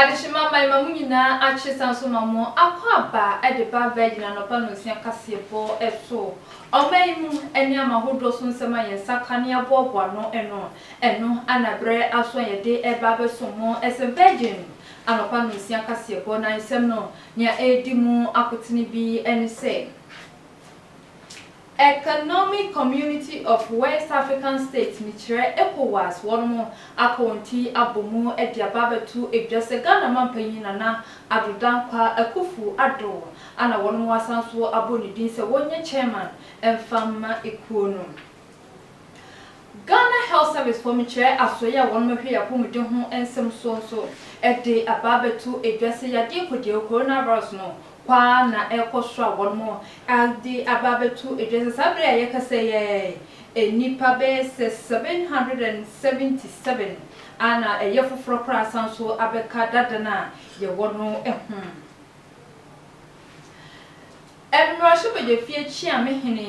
Adehyema man ma mo nyinaa akye san nso ma mo akɔ aba de ba Virgin anɔpa nnɔnsia kaseɛbɔ to ɔman yi mu ne ama hodoɔ so nsɛm a yɛn nsa ka ne aboaboa ano no ɛno ana berɛ aso a yɛde reba abɛsom mo ɛsɛ Virgin Anɔpa Nonsia Kaseɛbɔ no Nsɛm no nea ɛredi mu akotene bi ne sɛ, Economic Community of West African States no kyerɛ Ecowas wɔnom aka wɔn ti abɔ mu de aba abɛto dwa sɛ Ghana Mampanyin Nana Addo Dankwa Akuffo Addo a na wɔnom asan so abɔ ne din sɛ wɔnyɛ Chairman mfa mma ekuo no. Ghana Health Service fɔ mekyerɛ asoɛe a wɔnom hwɛ yɛn apɔmuden ho nsɛm soɔ nso de aba abɛto dwa sɛ yadeɛ kɔdiawu, coronavirus, no kwaa na ɛrekɔ soro a wɔnom de aba abɛto dwa sɛ saa berɛ a yɛkasa yi ara yi nnipa bɛyɛ sɛ 777 a na ɛyɛ foforɔ koraa asan nso abɛka dada no a yɛwɔ no ho. Mmarahyɛbadwafie Kyeame Hene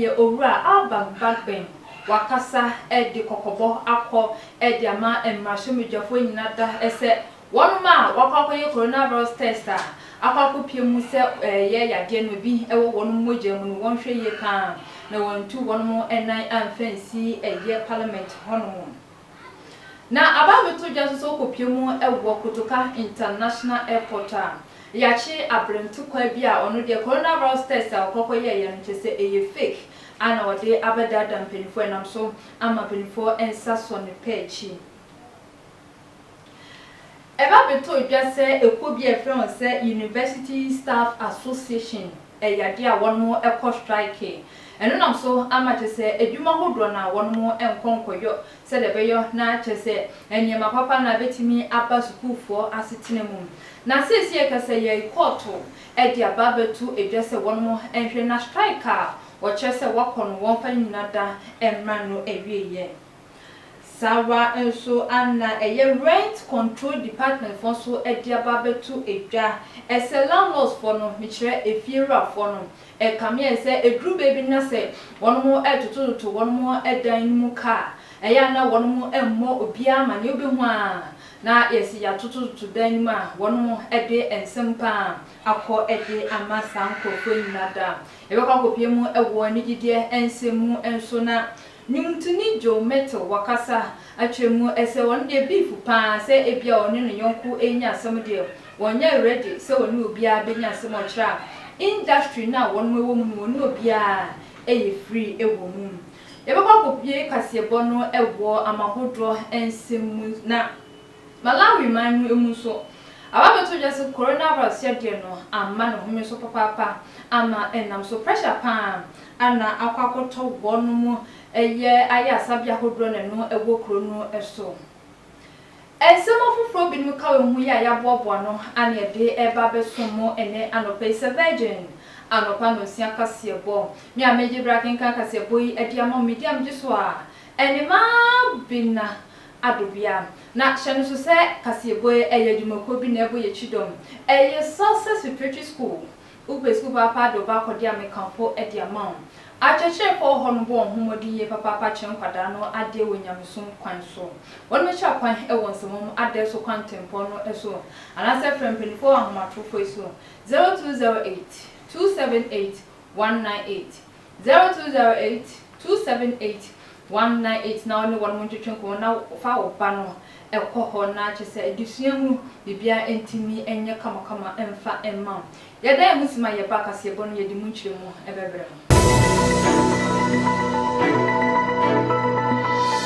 yɛ Owura Albert Bagbeng wakasa de kɔkɔbɔ akɔ de ama mmarahyɛmbadwafoɔ nyina da sɛ wɔnom a wakɔ akɔyɛ corona virus test a akɔ akɔpie mu sɛ ɛyɛ yadeɛ no bi wɔ wɔnom mogya mu no wɔnhwɛ yie paa na wɔntu wɔnom nan amfa nsi ɛyɛ parliament hɔnom. Na aba abɛtɔ dwa nso sɛ wokɔpue mu wɔ Kotoka International Airport a, yɛakye abrɛ ntokwa bi a ɔno deɛ coronavirus test a ɔkɔ kɔyɛeɛ no kyerɛ sɛ ɛyɛ fake a na ɔde abɛdaadaa mpanimfoɔ ɛnam so ama mpanimfoɔ nsa sɔ ne pɛ akyi. Ɛba bɛtɔɔ dwa sɛ ɛkuo bi a yɛfrɛ wɔn sɛ University Staff Association, Ɛyɛ adeɛ a wɔnom kɔ strike. Ɛno nam so ama kyerɛ sɛ adwuma hodoɔ no a wɔnom nkɔ nkɔyɔ sɛdeɛ ɛbɛyɔ na kyerɛ sɛ nneɛma papa na bɛtumi aba sukuufoɔ asetena mu. Na seesei ɛka sɛ yɛyi kɔɔto de aba abɛto dwa sɛ wɔnom nhwɛ na strike a wɔkyerɛ sɛ wɔkɔ no wɔmfa ne nyina da mmra no awieɛ. Saawa nso ana ɛyɛ rent control department foɔ nso de aba abɛto dwa. Ɛsɛ landlords foɔ no, mekyerɛ efie wura foɔ no, ɛkame ayɛ sɛ ɛduru baabi no na sɛ wɔnom retotototo wɔnom dan no mu ka a, ɛyɛ a na wɔnom mmɔ obiara amaneɛ, wobɛhu a na yɛse yɛatotototo dan no mu a wɔnom de nsɛm pa ara akɔ de ama saa nkorɔfoɔ nyina da. Yɛbɛkɔ akɔpue mu wɔ anigyedeɛ nsɛm mu nso na Nwomtoni Joe Mettle wakasa akyerɛ mu, ɛsɛ ɔno deɛ beef paa sɛ ebia ɔne ne yɔnko renya asɛm deɛ ɔnyɛ ready sɛ ɔne obiara bɛnya asɛm ɔkyerɛ a industry no a wɔnom wɔ mu no ɔne obiara yɛ free wɔ mu. Yɛbɛkɔ akɔbue kaseɛbɔ no wɔ Amahodoɔ nsɛm mu na Malawi man no mu nso, ababɛto dwa sɛ coronavirus yadeɛ no amma ne home so papaapa ama ɛnam so pressure pa ara na akɔ akɔtɔ wɔn mu yɛ ayarsabea ahodoɔ na ɛno ɛwɔ kuro no so. Nsɛm afoforɔ binom ka wɔ ho yi a yaboaboa no ano yɛde reba abɛsom mo ɛnɛ anɔpa yi sɛ Virgin anɔpa nonsia kaseɛbɔ. Me a megye berɛ akenkan kaseɛbɔ yi de ama mo, medi a megye so a ɛne Mabena Adobea. Na hyɛ no so sɛ kaseɛbɔɛ ɛyɛ adwumakuo bi na ɛbɔ yɛ kyidɔm. Ɛyɛ Success Preparatory School. Wopɛ sukuu papaapa de woba akɔde a meka mpo de ama wo. Akyerɛkyerɛfoɔ hɔ no bɔ wɔn ho mmɔden yie papaapa kyerɛ nkwadaa no adeɛ wɔ nyamesom kwan so. Wɔbɛkyerɛ kwan wɔ nsɛmwom adɛɛ so kwantempɔn no so anaasɛ frɛ mpaninfoɔ wɔ ahomatorofoɔ yi so, 0208 278 one nine eight, zero two zero eight two seven eight one nine eight na ɔne wɔnom ntwetwe nkɔmmɔ na fa wo ba no kɔ hɔ na kyerɛ sɛ adesua mu biribiara ɛntumi nyɛ kamakama mfa mma wo. Yɛda yɛn ho se ma yɛba kaseɛbɔ no yɛde mu nkyerɛmu bɛbrɛ mo.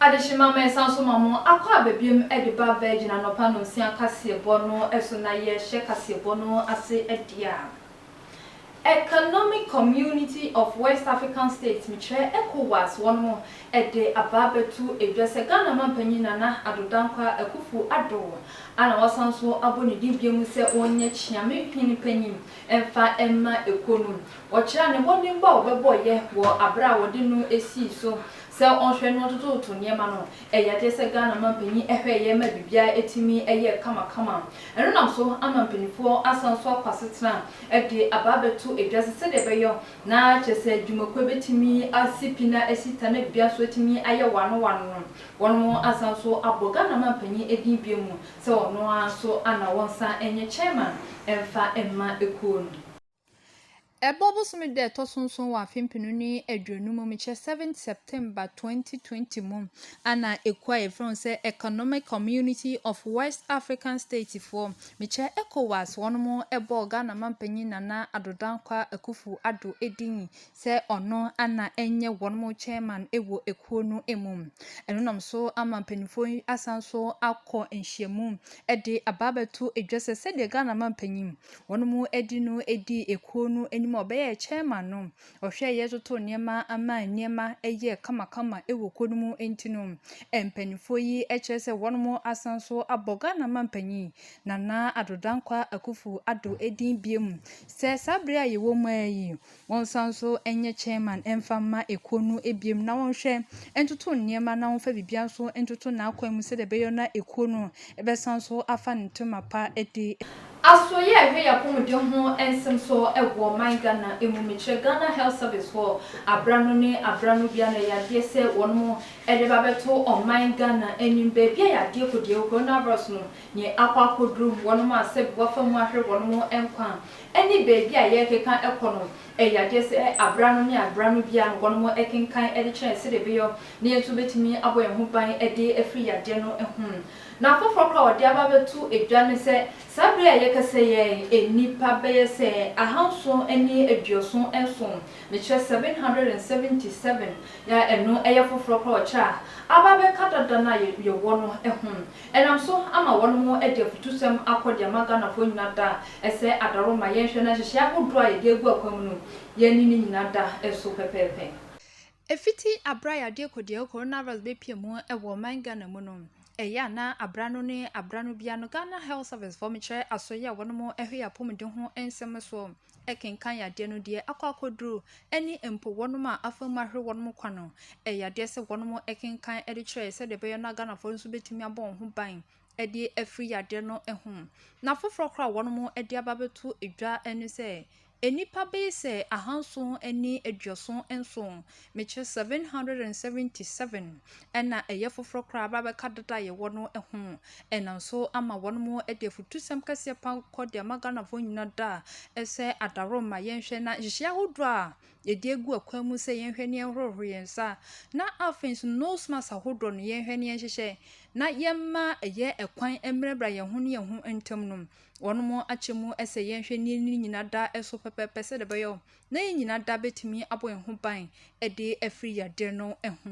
Adehye ma me san so ma mo akɔ aba biom de ba Virgin anɔpa nonsia kaseɛbɔ no so na yɛ hyɛ kaseɛbɔ no ase ɛdeɛ a Economic Community of West African States, me kyerɛ Ecowas, wɔnom de aba abɛto edwa sɛ Ghana Mampanyin Nana Addo Dankwa Akuffo Addo a na wasan so abɔ ne din biom sɛ ɔnyɛ Kyeame Hene Panyin mfa mma ekuo no Ɔkyerɛɛ ne mmɔdenbɔ a ɔbɛbɔ yɛ wɔ aberɛ a wɔde no sii so sɛ ɔnhwɛ na ɔtototo nneɛma no. Ɛyɛ adeɛ sɛ Ghana manpanin hwɛeɛ ma biribiara tumi yɛɛ kamakama. Ɛno nam so ama mpanimfoɔ asan so akɔ asetena de aba abɛto dwa sɛ sɛdeɛ ɛbɛyɔ na kyerɛ sɛ dwumakuo bɛtumi asi pi na asi ta na biribiara nso atumi ayɛ wano wano no, wɔnom asan so abɔ Ghana manpanin din bio mu sɛ ɔno ara nso ana wɔnsan nyɛ chairman mfa mma ekuo no. Ɛbɔ bosome da ɛtɔ so nson wɔ afe mpenu ne aduonu mu, mekyerɛ seventh September twenty twenty mu, ana ekuo a yɛfrɛ wɔn sɛ Economic Community of West African States foɔ, mekyerɛ Ecowas, wɔn mo bɔɔ Ghana Mampanyin Nana Addo Dankwa Akuffo Addo din sɛ ɔno ana ɛnyɛ wɔn mo chairman wɔ ekuo no mu. Ɛno nam so ama mpaninfoɔ yi asan so akɔ nhyiamu de aba abɛto edwa sɛ sɛdeɛ Ghana Mampanyin Wɔnom ɛdi no ɛdii ɛkuo no anim a ɔbɛyɛɛ chairman no ɔhwɛeɛ totoo nneɛma maa nneɛma ɛyɛɛ kamakama ɛwɔ kuo no mu ɛnti no mpaninfoɔ yi ɛkyerɛ sɛ wɔnom asan nso abɔ Ghana manpanin Nana Addo Dankwa Akuffo Addo ɛdin biom sɛ saa bere a yɛwɔ mu ara yi Wɔnsan nso nyɛ chairman mfa mma ekuo no biom na wɔnhwɛ ntoto nneɛma na wɔnfa biribiara nso ntoto n'akwan mu sɛdeɛ ɛbɛyɔ na ekuo no bɛsan nso afa ne tema pa adi. Asoeɛ a ɛhwɛ yapɔmuden ho nsem so wɔ ɔman Ghana mu mekyerɛ Ghana Health Service foɔ abra no ne abra no bia no ɛyɛ adeɛ sɛ wɔnom de ba bɛto ɔman Ghana anim baabi a yadeɛ kɔdie Coronavirus no nye akɔ akɔduru wɔnom a sɛbi wafa mu ahwere wɔnom nkwa ne baabi a yɛrekeka kɔ no yɛ adeɛ sɛ abera no ne abera no biara no wɔnom kenkan de kyerɛ sɛdeɛ ɛbɛyɔ na yɛn nso bɛtumi abɔ yɛn ho ban de afiri yadeɛ no ho. Na foforɔ koraa a wɔde aba abɛto dwa ne sɛ saa berɛ yi a yɛkasa yi ara yi nnipa bɛyɛ sɛ ahanson ne aduoson nson, mekyerɛ seven hundred and seventy seven, a ɛno yɛ foforɔ koraa a wɔkyerɛ a aba abɛka dada no a yɛwɔ no ho. Ɛnam so ama wɔnom de afutusɛm akɔ de ama Ghanafoɔ nyina da sɛ adaro ma yɛnhwɛ na nhyehyɛɛ ahodoɔ a yɛde agu akwan mu no yɛne ne nyina da so pɛpɛɛpɛ. Ɛfiti aberɛ a yadeɛ kɔdiahu coronavirus bɛpie mu wɔ ɔman Ghana mu no, ɛyɛ a na aberɛ ano ne aberɛ ano biara no Ghana Health Service foɔ mekyerɛ asoɛeɛ a wɔnom hwɛ yɛn apɔmuden ho nsɛm soɔ. kenkan yadeɛ no deɛ akɔ akɔduru ne mpo wɔnom a afa mu ahwere wɔnom kwa no, ɛyɛ adeɛ sɛ wɔnom kenkan de kyerɛ sɛdeɛ ɛbɛyɛ no a Ghanafoɔ nso bɛtumi abɔ wɔn ho ban de afiri yadeɛ no ho. Na foforɔ koraa a wɔnom de aba abɛto dwa ne sɛ, nnipa bɛyɛ sɛ ahanson ne aduoson nson Mekyerɛ seven hundred and seventy seven ɛna ɛyɛ foforɔ koraa aba abɛka dada a yɛwɔ no ho. Ɛnam so ama wɔnom de afutusɛm kɛseɛ pa kɔ de ama Ghanafoɔ nyina da sɛ adaworo ma yɛnhwɛ na nhyehyɛeɛ ahodoɔ a yɛde agu akwan mu sɛ yɛnhwɛ ne yɛnhorohoro yɛn nsa na afei nso nose mask ahodoɔ no yɛnhwɛ ne yɛnhyehyɛ na yɛmma ɛyɛ ɛkwan mmerɛbrɛ yɛn ho ne yɛn ho ntam no wɔnom akyɛ mu sɛ yɛnhwɛ ne yɛni nyina da so pɛpɛpɛ sɛ de bɛyɛ na yɛn nyinaa da betumi abɔ yɛn ho ban de afiri yadeɛ no ho.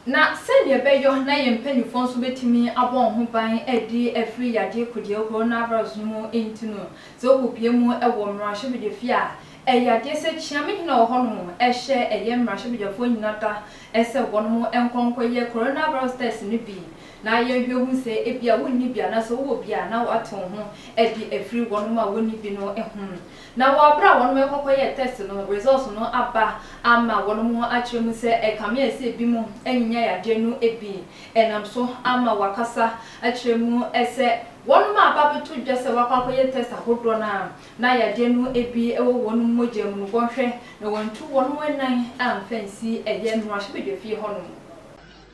Na sɛdeɛ ɛbɛyɔ na yɛn mpaninfoɔ nso betumi abɔ wɔn ho ban de afiri yadeɛ kodie coronavirus no mu nti no, sɛ wokɔ pie mu wɔ mmarahyɛbadwafie a, ɛyɛ adeɛ sɛ kyeame hene a ɔwɔ hɔ nom hyɛ ɛyɛ mmarahyɛbadwafoɔ nyinaa da sɛ wɔnom nkɔ nkɔyɛ coronavirus test no bi na yɛnhwɛ hu sɛ ebia wonni bi anaasɛ wowɔ bi a na woate wo ho de afiri wɔnom a wɔnni bi no ho. Na wɔ bere a wɔnom rekɔ kɔyɛɛ tɛst no, results no aba ama wɔnom akyerɛ mu sɛ ɛkame a ɛsɛ binom annya yadeɛ no bi. Ɛnam so ama wɔakasa akyerɛ mu sɛ wɔnom a aba abɛto dwa sɛ wɔakɔ akɔyɛ tɛst ahodoɔ no a na yadeɛ no bi wɔ wɔnom mogya mu no wɔnhwɛ na wɔantu wɔnom nan amfa ansi ɛyɛ mmarahyɛbadwafie hɔnom.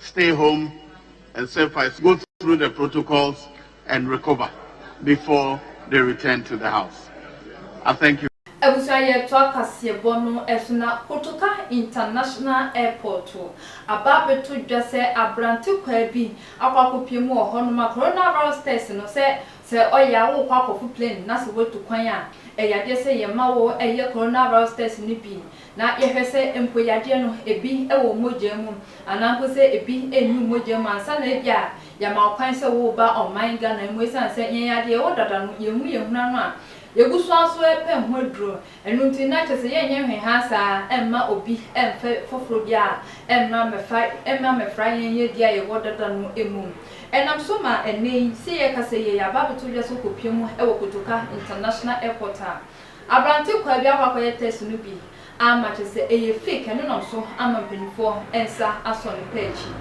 stay home and survive go through the protocols and recover before they return to the house I thank you. Abusua yɛtoa kaseɛbɔ no so na Kotoka International Airport aba abɛto dwa sɛ aberante kwaa bi akɔ akɔpue mu wɔ hɔ nom a coronavirus test no sɛ sɛ ɔyɛ a wokɔ akɔfo plane na sɛ woatu kwan a ɛyɛ adeɛ sɛ yɛma wo yɛ coronavirus test no bi Na yɛhwɛ sɛ mpo yadeɛ no ebi wɔ mogya mu anaa mpo sɛ ebi nni mogya mu ansa na ebia yɛama wo kwan sɛ woreba ɔman Ghana mu esiane sɛ yɛn yadeɛ yɛwɔ dada no yɛnhu yɛn hunu ano a yɛgu so ara so repɛ ho aduro ɛno nti na kyerɛ sɛ yɛnyɛ nhwɛhaa saa mma obi mfa foforɔ biara mmra mmɛfa mmra mmɛfra yɛn yadeɛ a yɛwɔ dada no mu ɛnam so ma ɛnnɛ yi sɛ yɛkasa yi yɛaba abɛto dwa sɛ wokɔpia mu wɔ Kotoka International Airport a Aberante kwaa bi akɔ akɔyɛ tɛst no bi amma kyerɛ sɛ ɛyɛ fake, ɛno nam so ama mpaninfoɔ nsa asɔ ne pɛ akyi.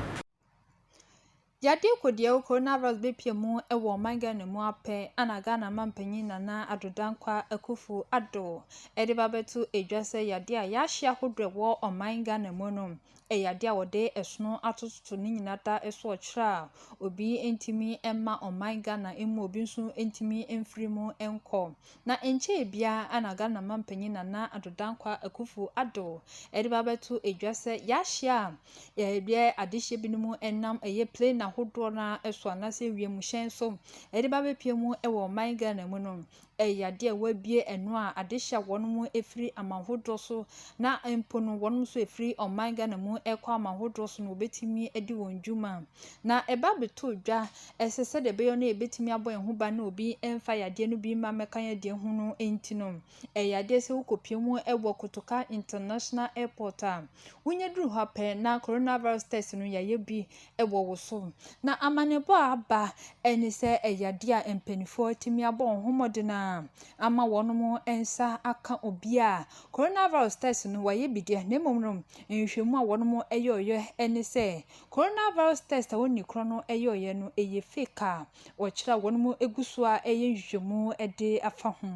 Yade Kodiawu Coronavirus bɛpia mu wɔ ɔman Ghana mu ara pɛ na Ghana manpanyin Nana Addo Dankwa Akuffo Addo de ba bɛto dwa sɛ yade a yɛahyɛ ahodoɔ a ɛwɔ ɔman Ghana mu no Ɛyɛ adeɛ a wɔde ɛsono atototo ne nyinaa da so ɔkyerɛ a obi ntumi mma ɔman Ghana mmu, obi nso ntumi mfiri mu nkɔ. Na ɛnkyɛɛ biara na Ghana manpanin Nana Addo Dankwa Akuffo Addo de ba abɛto dwa sɛ yɛahyɛ a yɛyɛ adehyeɛ binom nam ɛyɛ plane ahodoɔ no ara so anaasɛ wiemhyɛn so de ba abɛpue mu wɔ ɔman Ghana mu no, Ɛyɛ yadeɛ a wɔabue ano a ade hyɛ wɔn mu firi aman hodoɔ so na mpo no wɔn nso ɛfiri ɔman Ghana mu ɛkɔ aman hodoɔ so na wɔbɛtumi adi wɔn dwuma. Na ɛba bɛtɔ dwa ɛsɛ sɛdeɛ ɛbɛyɛ no yɛbɛtumi abɔ yɛn ho ban na obi mfa yadeɛ no bi mma mmɛka yɛn deɛ ho no nti no ɛyɛ yadeɛ sɛ wokɔpie mu wɔ Kotoka International Airport a wonya duru hɔ pɛ na coronavirus test no yɛayɛ bi wɔ wo so. Na amanebɔ a aba ne sɛ ɛyɛ adeɛ a mpanimfoɔ atumi abɔ wɔn ho mmɔden a ama wɔn nsa aka obi a corona virus test no wɔayɛ bi deɛ na mmom no nhwehwɛmu a wɔyɛeɛ ne sɛ corona virus test a wɔnni korɔ no yɛeɛ no ɛyɛ fake a wɔkyerɛ a wɔn gu so a ɛyɛ nhwehwɛmu de afa ho.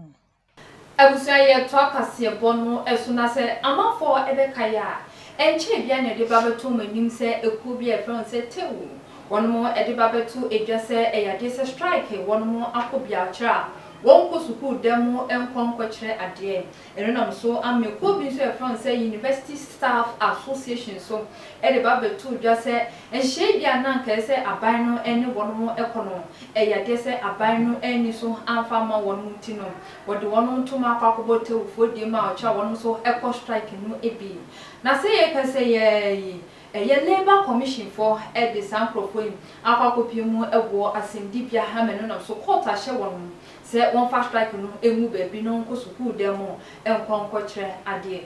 Abusua yɛ toa kaseɛbɔ no so na sɛ amanfoɔ ɛbɛka yɛ a, ɛnkyɛɛ biaa na ɛde ba bɛto wɔn anim sɛ ekuo bi a yɛfrɛ wɔn sɛ Tew, wɔnom ɛde ba bɛto dwa sɛ ɛyɛ adeɛ sɛ strike, wɔnom akɔ biakyerɛ a wɔnkɔ sukuu da mu nkɔ nkɔkyerɛ adeɛ. Ɛno nam so ama ekuo bi nso a yɛfrɛ wɔn sɛ University Staff Association nso ɛde ba bɛtoo dwa sɛ Ɛnhyɛɛ bi a na anka ɛsɛ sɛ aban no ne wɔnom kɔ no, ɛyɛ adeɛ sɛ aban no anni so amfa amma wɔnom nti no, wɔde wɔnom toom akɔ akɔbɔ Tewfoɔ die mu a ɔkyerɛ a wɔnom nso kɔ strike no bi. Na sɛ yɛka sɛ yɛɛ yi, ɛyɛ Labour Commission foɔ de saa nkorɔfoɔ yi akɔ akɔpue mu wɔ asɛnnibea ha ma ɛno nam so court ahyɛ wɔnom sɛ wɔmfa strike no ngu baabi na wɔnkɔ sukuu dan mu nkɔ nkɔkyerɛ adeɛ.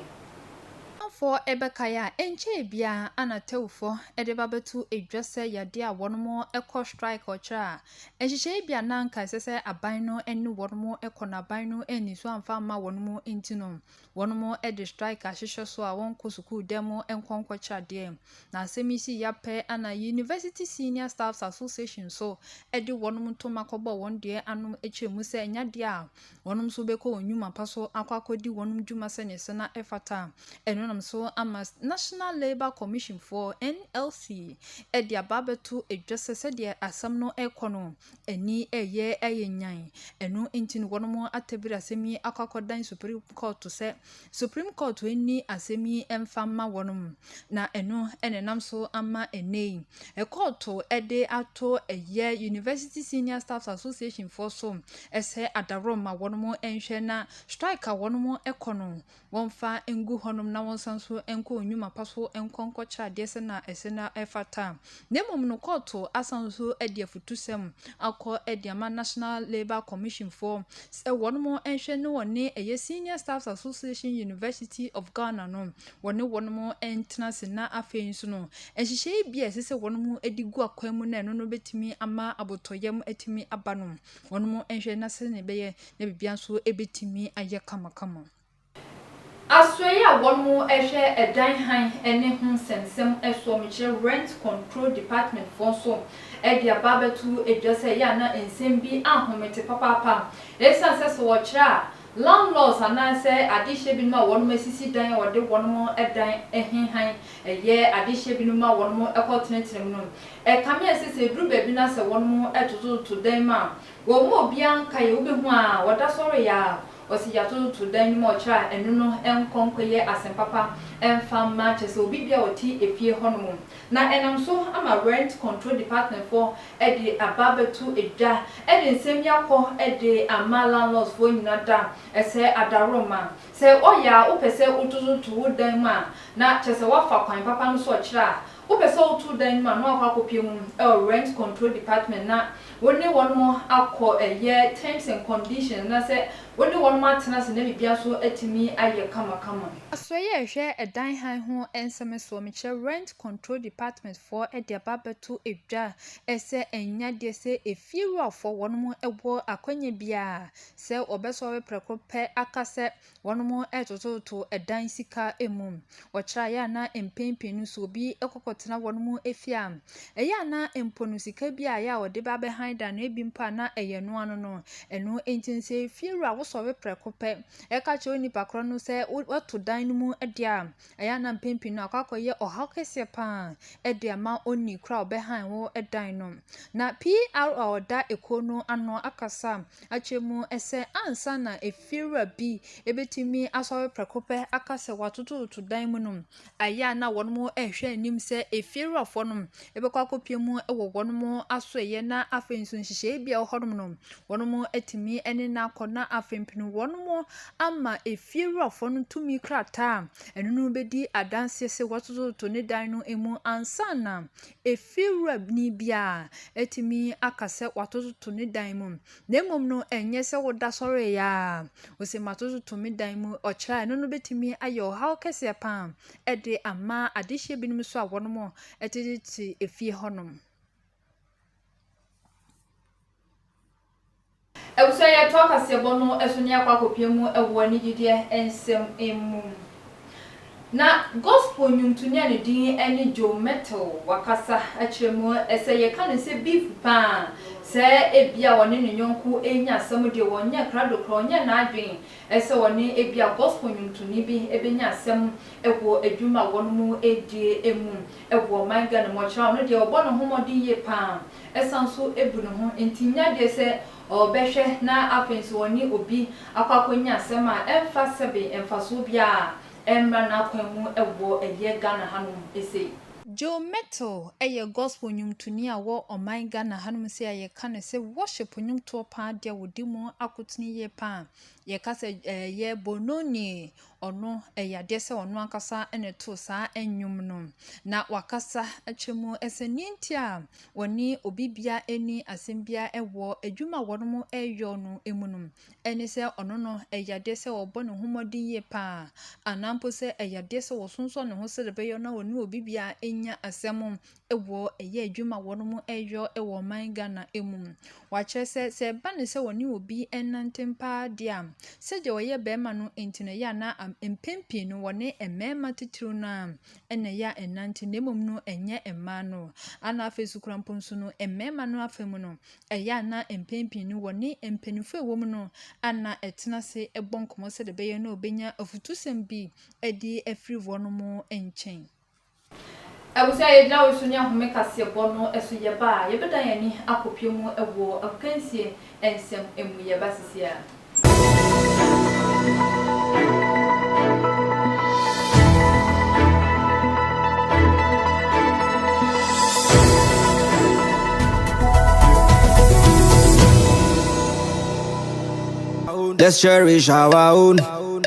Amanfoɔ bɛkae a, ɛnkyɛɛ biara na Tewfoɔ de ba bɛto dwa sɛ yadeɛ a wɔnom kɔ strike ɔkyerɛ a, nhyehyɛeɛ bi a na anka ɛsɛ sɛ aban no ne wɔnom kɔ na aban no anni so amfa amma wɔnom nti no, wɔnom de strike ahyehyɛ so a wɔnkɔ sukuu dan mu nkɔ nkɔkyerɛ adeɛ. Na asɛm yi sii ya pɛ na University Senior Staffs Association nso de wɔnom ntoma kɔbɔɔ wɔn deɛ ano kyerɛɛ mu sɛ ɛnyɛ adeɛ a wɔnom nso bɛkɔ wɔn nnwuma pa so akɔ akɔdi wɔnom dwuma sɛdeɛ ɛsɛ na ɛfata. Ɛno nam so ama National Labour Commission foɔ, NLC, de aba abɛto dwa sɛ sɛdeɛ asɛm no rekɔ no, ani reyɛ ayɛ nyan. Ɛno nti no wɔnom atabiri asɛm yi akɔ akɔdan Supreme Court sɛ Supreme Court nni asɛm yi mfa mma wɔn na ɛno na ɛnam so ama ɛnnɛ yi kɔɔto de ato ɛyɛ University Senior Staffs Association foɔ so sɛ adaworɔ ma wɔn nhwɛ na strike a wɔn kɔ no wɔmfa ngu hɔnom na wɔnsan so nkɔ nnwuma pa so nkɔ nkɔkyerɛ adeɛ sɛ na ɛsɛ na ɛfata. na mmom no kɔɔto asan nso de afutusɛm akɔ de ama National Labour Commission foɔ sɛ wɔn mo nhwɛ ne wɔne ɛyɛ Senior Staffs Association University of Ghana no wɔne wɔn mo ntena se na afei nso no nhyehyɛe bi a ɛsɛ sɛ wɔn mo de gu akwan mu na ɛno no bɛtumi ama abotɔyam atumi aba no wɔn mo nhwɛ na sɛ ne bɛyɛ na biribiara nso ɛbɛtumi ayɛ kamakama. Asoɛe a wɔhwɛ dan hann ne ho nsɛmnsɛm soɔ mekyerɛ Rent Control Department foɔ nso de aba abɛto dwa sɛ ɛyɛ a na nsɛm bi anhomete papaapa ɛsiane sɛ sɛ wɔkyerɛ a landlords anaasɛ adehyeɛ binom a wɔnom asisi dan a wɔde wɔnom dan he hann yɛ adehyeɛ binom ma wɔnom kɔ tenetene mu no ɛkame a ɛsɛ sɛ ɛduru baabi no a sɛ wɔnom totototo dan mu a Wɔn mu obiara nka yɛ wobɛhu a wɔda so reyɛ a ɔse yɛatototo dan no mu a ɔkyerɛ a ɛno no nkɔ nkɔyɛ asempapa mfa mma kyerɛ sɛ obi bia ɔte efie hɔ nom na ɛnam so ama rent control department foɔ de aba abɛto dwa de nsɛm yi akɔ de ama landlords foɔ nyina da sɛ adaworoma sɛ ɔyɛ a wopɛ sɛ wotototo wo dan mu a na kyerɛ sɛ woafa kwan papa no so ɔkyerɛ a Wopɛ sɛ woto dan no mu a na wakɔ akɔpue ho wɔ Rent Control Department na wo ne wɔnom akɔ ɛyɛ terms and conditions anaasɛ wo ne wɔnom atena ase na biribiara nso atumi ayɛ kamakama. Asoɛeɛ a ɛhwɛ dan hann ho nsɛm soɔ, mekyerɛ Rent Control Department foɔ de aba abɛto dwa sɛ ɛnnya deɛ sɛ efiewurafoɔ wɔnom wɔ akwanya biara a sɛ wɔbɛsɔre prɛko pɛ aka sɛ Wɔtototo dan sika mu. Wɔkyerɛ a ɛyɛ a na mpɛn pii no so obi kɔkɔtena wɔn fie a, ɛyɛ a na mpo no sika bi a ɛyɛ a wɔde ba abɛhan dan no ebi mpo a na ɛyɛ ɛno ara no. Ɛno nti no sɛ fiewura wosɔre prɛko pɛ ka kyerɛ wo nipa korɔ no sɛ wo woato dan no mu deɛ a, ɛyɛ a na mpɛn pii no akɔ akɔyɛ ɔhaw kɛseɛ pa ara de ama onii korɔ a ɔbɛhan wo dan no. Na PR a ɔda ekuo no ano akasa akyerɛ mu sɛ ansa na ef . Fiewura bi bɛtumi asɔre prɛko pɛ aka sɛ wɔatotototo dan mu nom, ɛyɛ a na wɔrehwɛ anim sɛ efiewurafoɔ nom bɛkɔ akɔpue mu wɔ wɔn asoɛeɛ na afei nso nhyehyɛeɛ bi a ɛwɔ hɔnom no, wɔatumi ne no akɔ na afei mpo wɔama efiewurafoɔ no tumi krataa a ɛno ne bɛdi adanseɛ sɛ wɔatotototo ne dan no mu ansa na efiewurani biara atumi aka sɛ wɔatotototo ne dan mu. Na mmom no, ɛnyɛ sɛ woda sɔreeɛ ara a, ɔsɛ matototo me dan mu. Ɔkyerɛ a ɛno no bɛtumi ayɛ ɔhaw kɛseɛ pa ara de ama adehyeɛ binom nso a wɔnom tetete efie hɔnom. Abusuayɛ toa kaseɛbɔ no so ne akɔ akɔpie mu wɔ ne gyidie nsɛm mu. Na gospel nnwomtoni a ne din ne Joe Mettle wakasa akyerɛ mu. Sɛ yɛka no sɛ beef paa a, sɛ ebia ɔne ne yɔnko renya asɛm deɛ, ɔnyɛ krado koraa, ɔnyɛ n'adwene sɛ ɔne ebia gospel nnwomtoni bi bɛnya asɛm wɔ adwuma a wɔnom redie mu wɔ ɔman Ghana mu. Ɔkyerɛ a, ɔno deɛ ɔbɔ ne ho mmɔden yie paa, ɛsan nso bu ne ho ntinnya deɛ sɛ ɔrebɛhwɛ na afei nso ɔne obi akɔ akɔnya asɛm a ɛmfa sɛbe mfasoɔ biara a ɛmmra n'akwan mu wɔ ɛyɛ Ghana hanom sei. Joe Mettle yɛ gospel nwomtoni a wɔ ɔman Ghana hanom sei a yɛka no sɛ worship nwomtoɔ paa deɛ wɔdi mu akotene yie paa. Yɛka sɛ ɛyɛ Bononi Ɔno, ɛyɛ adeɛ sɛ ɔno ankasa na ɔtoo saa nnwom no. Na wakasa akyerɛ mu sɛ deɛ nti a ɔne obi biara nni asɛm biara wɔ adwuma a wɔreyɔ no mu no, ɛne sɛ ɔno no, ɛyɛ adeɛ sɛ ɔbɔ ne ho mmɔden yie pa ara, anaa mpo sɛ ɛyɛ adeɛ sɛ ɔsonsɔn ne ho sɛdeɛ ɛbɛyɛ na ɔne obi biara nnya asɛm wɔ ɛyɛ adwuma a wɔyɔ wɔ ɔman Ghana mu. Wɔakyerɛ sɛ, sɛ ɛba no sɛ wɔne obi renantem paa deɛ a, sɛdeɛ ɔyɛ barima no nti na ɛyɛ a na am mpɛn pii no wɔne mmarima titiriw no ara na ɛyɛ a ɛnante na mmom no ɛnyɛ mmaa no. Ɛnna afei nso koraa mpo nso no, mmarima no afa mu no, ɛyɛ a na mpɛn pii no wɔne mpanimfoɔ a wɔwom no na ɛtena ase bɔ nkɔmmɔ sɛdeɛ ɛbɛyɛ na wɔbɛnya afutusɛm bi de afiri wɔn nkyɛn. Ɛwɔ sɛ yɛgyina wo so ne ahome kaseɛbɔ no so yɛba a, yɛbɛdan yɛn ani akɔpie mu wɔ akansie nsɛm mu yɛba sisi a. Let's cherish our own.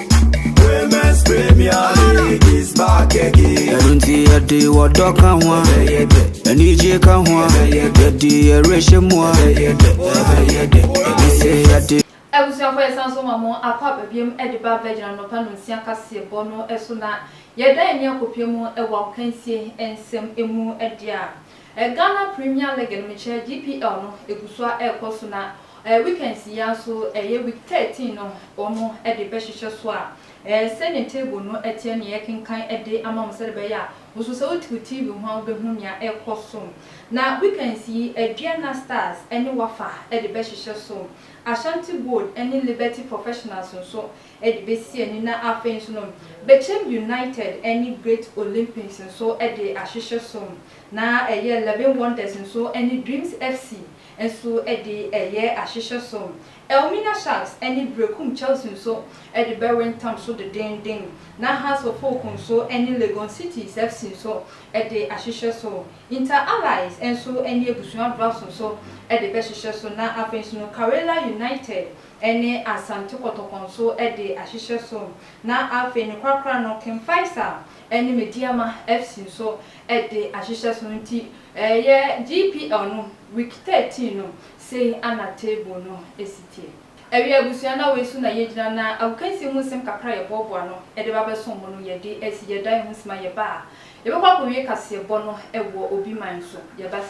Women's Premier League is back again. ɛno nti yɛde wɔdɔ ka ho a anigye ka ho a yɛde yɛrehyɛ mu a ɛsɛ yɛde Abusuafo yɛsan nso ma mo akɔ aba biom de ba Virgin anɔpa nonsia kaseɛ bɔ no so na yɛdan ani akɔpue mu wɔ agokansie nsɛm mu deɛ a Ghana Premier League no mekyɛ GPL no ɛgu so a ɛrekɔ so na Eh weekends yi ara so ɛyɛ week thirteen no wɔn de bɛhyehyɛ so a eh sɛdeɛ table no teɛ ne yɛrekenkan de ama mo sɛdeɛ ɛbɛyɛ a wo nso sɛ wote wo TV ho a wobɛhu nea ɛrekɔ so. Na weekends yi Aduana Stars ne Wafa de bɛhyehyɛ so. Ashanti Gold ne Liberty Professionals nso de bɛsi ani na afei nso no Bechem United ne Great Olympics nso de ahyehyɛ so. Na ɛyɛ Eleven Wonders nso ne Dreams FC nso de reyɛ ahyehyɛ som. Elmina Sharks ne Berekum Chelsea nso de bɛwe ntam so dedeenden, na Hearts of Oak nso ne Legon Cities FC nso de ahyehyɛ so. Inter Allies nso ne Abusua Drafts nso de bɛhyehyɛ so, na afei nso no Karela United ne Asante Kotoko nso de ahyehyɛ so, na afei no korakora no King Faisal ne Medeama FC nso de ahyehyɛ so nti ɛyɛ GPL no week thirteen no sei ana table no si teɛ ɛyɛ abusua na wei so na yɛgyina na agokansie ho nsɛm kakra a yɛboaboa ano de ba bɛsom mo no yɛde asi yɛdan ho sima yɛba a yɛbɛkɔ akɔwie kaseɛbɔ no wɔ obi man so yɛba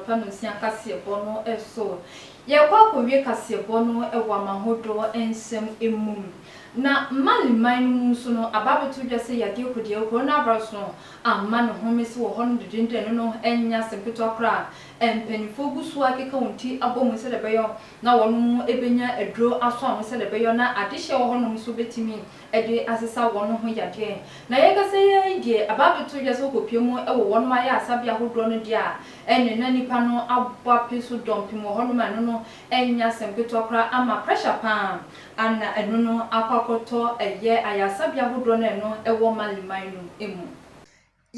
anɔpa na osia kaseɛbɔ no so. Yɛrekɔ akɔwie kaseɛbɔ no wɔ amahodoɔ nsɛm mu. Na Mali man no mu nso no, aba abɛto dwa sɛ yadeɛ kodiawu, coronavirus no, ama no home so wɔ hɔ nom dendenden. Ɛno no nyɛ asɛm ketewa koraa. Mpanimfoɔ gu so ara keka wɔn ti abɔ mu sɛdeɛ ɛbɛyɔ na wɔnom bɛnya aduro aso ano sɛdeɛ ɛbɛyɔ na adehyeɛ wɔ hɔ nom nso bɛtumi de asesa wɔn ho yadeɛ. Na yɛkasa yi ara yi deɛ aba abɛto dwa sɛ wɔkɔpue mu wɔ wɔnom ayaresabea ahodoɔ no deɛ a, ɛneɛ na nnipa no abɔ ape so dɔmpem wɔ hɔnom a ɛno no ɛnyɛ asɛm ketewa koraa ama pressure pa ara na ɛno no akɔ akɔtɔ ɛyɛ ayaresabea ahodoɔ no a ɛno ɛwɔ Mali man no mu.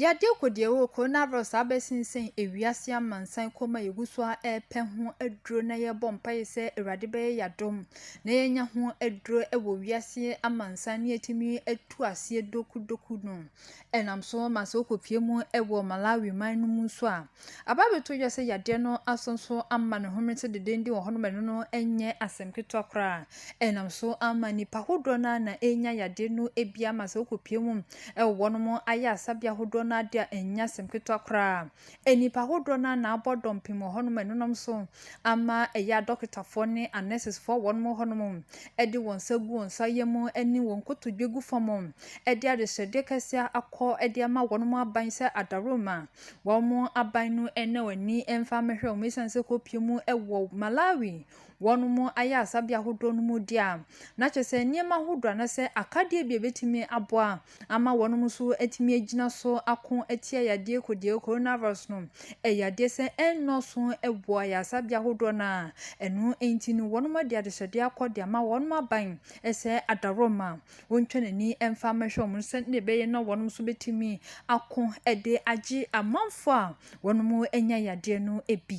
Yɛde rekɔ deɛ ɛwɔ coronavirus a abɛsensɛn ewiase amansan kɔm a yɛgu so ara repɛ ho aduro na yɛrebɔ mpaeɛ sɛ Awurade bɛyɛ yɛn adom na yɛanya ho aduro wɔ wiase amansan na yɛatumi atu aseɛ dokudoku no. Ɛnam so ma sɛ wokɔpue mu wɔ Malawi man no mu nso a, Ababetɔ wiase yadeɛ no aso nso ama ne home te dendenden wɔ hɔnom, ɛno no nyɛ asɛm ketewa koraa. Ɛnam so ara ma nnipa ahodoɔ no ara na ɛrenya yadeɛ no bi ama sɛ wokɔpue mu wɔ hɔnom ayaresabea ahodoɔ no ara de a, ɛnyɛ asɛm ketewa koraa. Nnipa ahodoɔ no ara na abɔ dɔmpem wɔ hɔnom, ɛno nam so ama ɛyɛ a adɔkotafoɔ ne anɛsesfoɔ wɔ hɔnom hɔnom de wɔn nsa gu wɔn nsa yam ne wɔn nkotodwe gu fam de adehyɛdeɛ kɛseɛ akɔ de ama wɔnom aban sɛ adaworoma Wɔn aban no nna wɔn ani mfa mmɛhwɛ wɔn ɛsiane sɛ kɔpie mu wɔ Malawi wɔn ayarasabea ahodoɔ no mu deɛ a, na kyerɛ sɛ nneɛma ahodoɔ anaa sɛ akadeɛ bi a ɛbɛtumi aboa ama wɔn nso atumi agyina so ako atia yadeɛ kodie corona virus no, ɛyɛ adeɛ sɛ ɛnnɔɔso wɔ ayaresabea ahodoɔ no a ɛno nti no wɔn de adehyɛdeɛ akɔ de ama wɔn aban sɛ adaworoma. Ontwa n'ani mfa mmɛhwɛ wɔn sɛnea ɛbɛyɛ na wɔn nso bɛtumi ako de agye amanfoɔ a wɔanya yadeɛ no bi.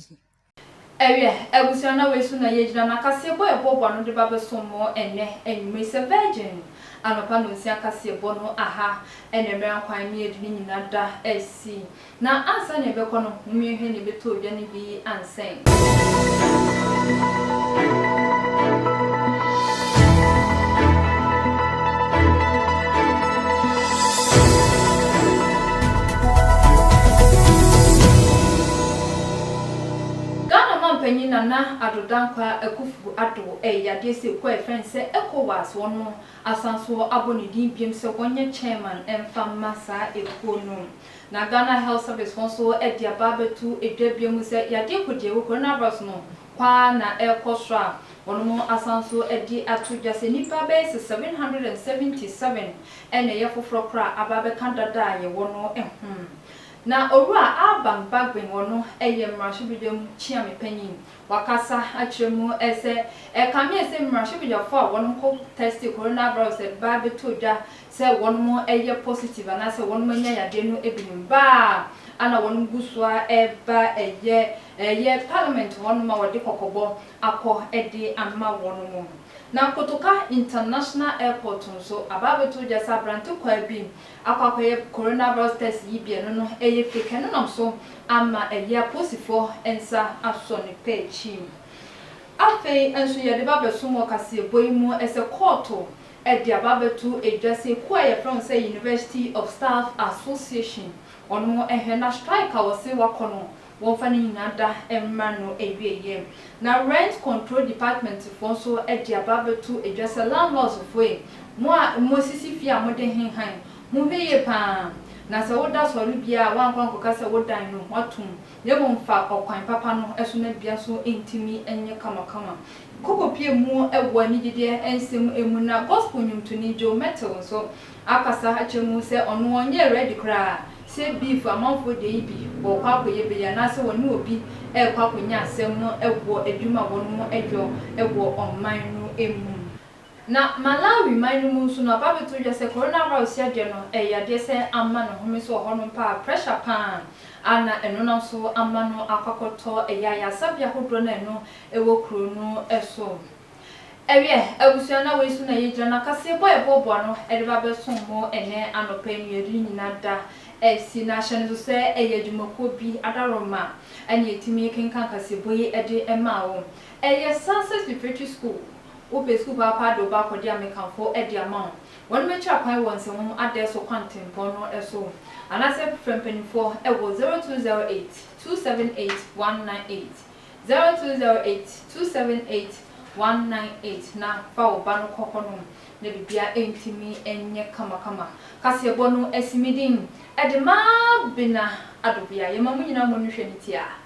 Ɛwia abusua na wei so na yɛgyina na kaseɛbɔ a yɛbɔɔbɔ ano de ba bɛsom mo ɛnnɛ anwummerɛ yi sɛ Virgin anɔpa nonsia kaseɛbɔ no aha ɛna mmerɛ a nkwan mmiɛdu no nyina da asi. Na ansa na yɛbɛkɔ no, mommue hwɛ na yɛbɛtɔ odwa no bi ansɛn. Ghana mampanyin Nana Addo Dankwa Akuffo Addo reyɛ adeɛ sɛ kuo a yɛfrɛ no sɛ Ecowas, wɔn no asan so abɔ ne din biom sɛ wɔnyɛ chairman mfa mma saa ekuo no. Na Ghana Health Service foɔ nso de aba abɛto dwa bio mu sɛ yadeɛ kɔgyeɛwɔ, coronavirus no, kwaa na ɛrekɔ soro a wɔnom asan nso de ato dwa sɛ nnipa bɛyɛ sɛ seven hundred and seventy seven na ɛyɛ foforɔ korɔ a aba abɛka dada a yɛwɔ no ho. Na Owura Alban Bagbin wɔno yɛ mmarahyɛbedwa mu kyeame panyin wakasa akyerɛ mu sɛ ɛkame sɛ mmarahyɛbedwafoɔ a wɔnom kɔ tɛste coronavirus de ba abɛto dwa sɛ wɔnom yɛ positive anaasɛ wɔnom anya yadeɛ no binom baa a na wɔnom gu so ara reba ɛyɛ ɛyɛ parliament hɔ nom a wɔde kɔkɔbɔ akɔ de ama wɔnom. Na Kotoka international airport nso aba abɛto gya sɛ aberante kwaa bi akɔ akɔyɛ corona virus test yi bi a ɛno no yɛ fake ɛno nam so ama ɛyɛ aposifoɔ nsa asɔ ne pɛ akyi. Afei nso yɛde ba abɛsom wɔ kaseɛbɔ yi mu sɛ kɔɔto de aba abɛto dwa sɛ kuo a yɛfrɛ wɔn sɛ University of Staff Association, wɔn nhwɛ na strike a wɔse wɔakɔ no wɔmfa ne nyinaa da mmra no awieɛ. Na Rent Control Department foɔ nso de aba abɛto dwa sɛ landlords foɔ ei, mo a moasisi fie a mode he hann, monhwɛ yie pa ara na sɛ woda sɔre biara a woankɔ ankɔka sɛ wo dan no wɔato mu. na mmom fa ɔkwan papa no so na dua so ntumi nyɛ kamakama. Koko pie mu wɔ anigyedeɛ nsɛm mu na gospel nnwomtoni Joe Mettle nso akasa akyerɛ mu sɛ ɔno ɔnyɛ ready koraa sɛ beef amanfoɔ deɛ yi bi wɔkɔ akɔyɛ bɛyi anaasɛ wɔne obi rekɔ akɔnya asɛm no wɔ adwuma a wɔnom dwɔ wɔ ɔman no mu. Na Malawi man no mu nso no aba abɛto dwa sɛ coronavirus yadeɛ no ɛyɛ yadeɛ sɛ ama no home so wɔ hɔ nom paa, pressure paa a na ɛno nam so ama no akɔakɔtɔ ɛyɛ ayaresabea hodoɔ no a ɛno ɛwɔ kuro no so. Ɛwiɛ, abusua no a wei so na yɛgyina no akaseɛ bɔ a yɛboaboa ano de ba abɛsom mo ɛnɛ anɔpa yi no yɛde ne nyina da asi na hyɛ no nso sɛ ɛyɛ adwumakuo bi adaworoma ɛna yɛtumi kenkan kaseɛbɔ yi de maa wo. Ɛyɛ Success Preparatory School. Wopɛ sukuu paapaa de wo ba akɔ de a, mekamfo de ama wo. Wɔbɛkyerɛ kwan wɔ nsɛmhoma adɛɛso kwan tempɔn no so anaasɛ frɛ mpanimfoɔ wɔ 0208 278 198, 0208 278 198 na fa wo ba no kɔ hɔnom na biribiara ntumi nyɛ kamakama. Kaseɛbɔ no asi me din de ma Bena Adobea. Yɛma mo nyinaa mo ani hwɛ ne tiaa.